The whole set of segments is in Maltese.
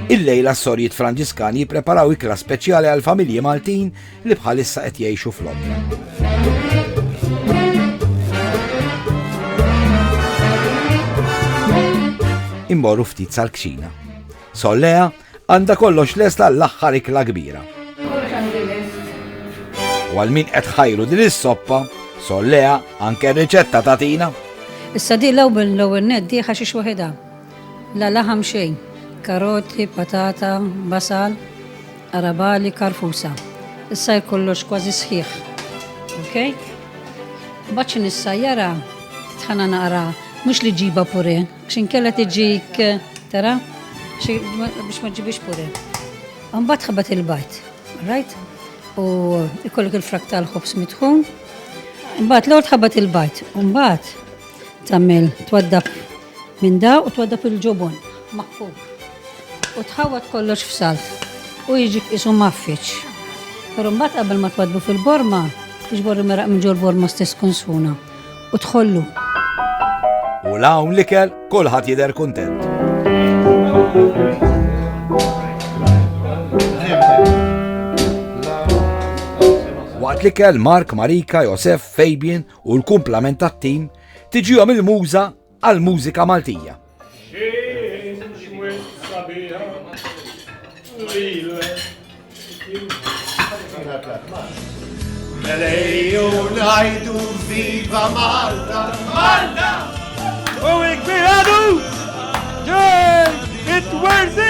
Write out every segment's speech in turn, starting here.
Illejla s-Sorjiet Franġiskani jippreparaw ikla speċjali għal familji Maltin li bħalissa qed jgħixu f'Londra. Immorru ftit sal-kċina. Sollea għandha kollox lesta l-aħħar ikla kbira. U għal min qed ħajru din is-soppa, sollea anke riċetta tatina. Issa di l-ewwel l-ewwel neddi ħaxix waħedha. La laħam xejn, karoti, patata, basal, arabali, karfusa. Issajr kollox kważi sħiħ. Ok? Mbagħad xi nissajjara tħana naqra mhux li ġiba pure, x'in kella tiġik tara biex ma ġibix pure. Mbagħad ħabat il-bajt, right? U ikollok il-frak tal-ħobs mitħun. Mbagħad l-ewwel tħabat il-bajt, mbagħad tagħmel twaddab Minn da u twaddab il-ġubun maħkuk u tħawwad kollox f'salt u jiġi qisu mgħaffiġ. Però mbagħad qabel ma twaddbu fil-borma, iġbor il-meraq minn ġol-borma stess kunsuna u dħollu. U 'l hawn l-ikel kulħadd jidher kuntent. Waqt l-ikel Mark, Marika, Josef, Fabian u l-kumplament tat-tim tiġihom il-muża għall-mużika Maltija. Melejju najdu viva Malta, Malta! U ikbiradu! Ġej, it-werzi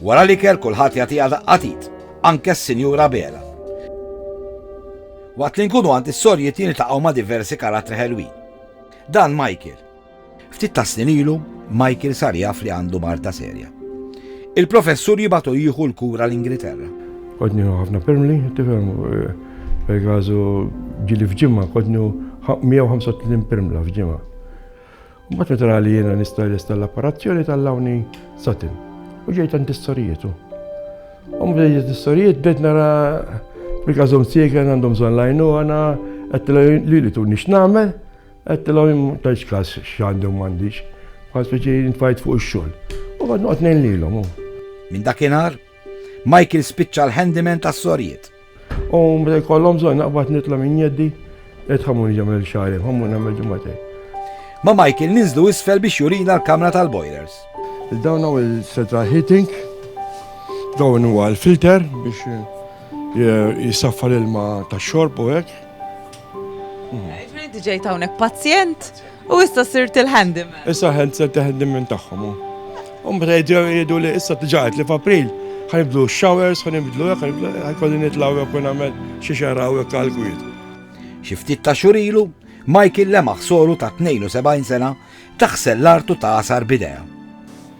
Wara l-ikel kulħadd jagħtiha daqqa t'id, anke s-Sinjura Bela. Waqt li nkunu għand is-sorjiet niltaqgħu ma' diversi karattri ħelwin. Dan Michael. Ftit ta' snin ilu, Michael sar jaf li għandu marta serja. Il-professur jibatu jieħu l-kura l-Ingilterra. Kodnju ħafna permli, tifhem, eh, per kazu ġili fġimma, kodnju 135 permla fġimma. Mbagħad meta ra li jiena nista' lesta l-apparazzjoni tal-lawni satin u ġejt għand is-sorijitu. U meta ġejt is-sorijiet bed nara bil-każhom siegen għandhom bżonn lajnu għana qed li li tuni x'nagħmel qed tilhom ta' x'każ x'għandhom m'għandix. Bħal speċi nfajt fuq ix-xogħol. U bad noqgħod ngħin lilhom. Minn dakinhar, Michael spiċċa l-handyman tas-sorijiet. U meta jkollhom bżonn naqbad nitla' minn jeddi, idħamu niġi nagħmel xagħri, ħammu nagħmel ġimgħatej. Ma' Michael ninżlu isfel biex jurina l-kamra tal-boilers. Dawn hawn il-central heating, dawn huwa l-filter biex eh, jisaffa l-ilma tax-xorb u hekk. Ġifieri ġejt hawnhekk pazjent? U issa sirt il-handyman. Issa ħed sirt il-handyman tagħhom. U mbagħad ġew jgħidu li issa tġaqgħet li f'April ħanibdlu showers, ħanibdlu hekk, ħankolli nitlgħu hekk u nagħmel xi xaraw hekk għall-kwiet. Xi ftit ta' xurilu, Michael lemaħ soru ta' 72 sena taħsel l-artu ta' asar bidea.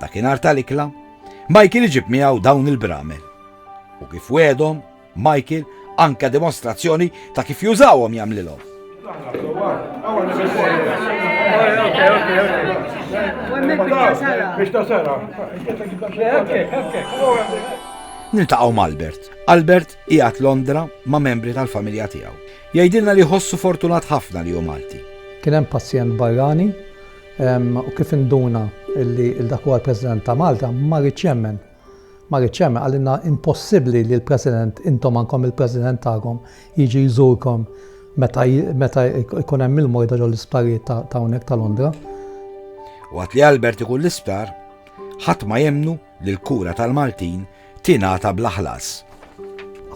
Dakinhar tal-ikla, Michael iġib miegħu dawn il-bramel. U kif wedhom, Michael anka dimostrazzjoni ta' kif jużawhom jagħmlilhom. Niltaqgħu ma' Albert. Albert qiegħed Londra ma' membri tal-familja tiegħu. Jgħidilna li jħossu fortunat ħafna li hu Malti. Kien hemm pazjent barrani u kif induna li dak huwa l-President ta' Malta, ma riedx jemmen. Ma riedx jemmen, qalilna impossibbli li l-President, intom għandkom il-President tagħkom, jiġi jżurkom meta jkun hemm il-morda ġol isptarijiet ta' hawnhekk ta' Londra. Waqt li Albert ikun l-isptar, ħadd ma jemmnu li l-kura tal-Maltin tingħata bla ħlas.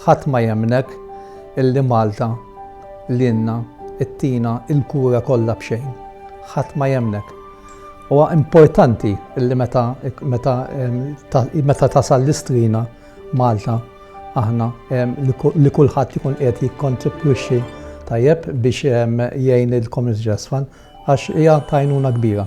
Ħadd ma jemmnek illi Malta lilna ttina l-kura kollha b'xejn. Ħadd ma jemmnek. Huwa importanti illi meta meta meta tasal l-istrina Malta aħna li kulħadd ikun qed jikkontribwixxi tajjeb biex jgħin il-Community Trust Fund għax hija tajnuna kbira.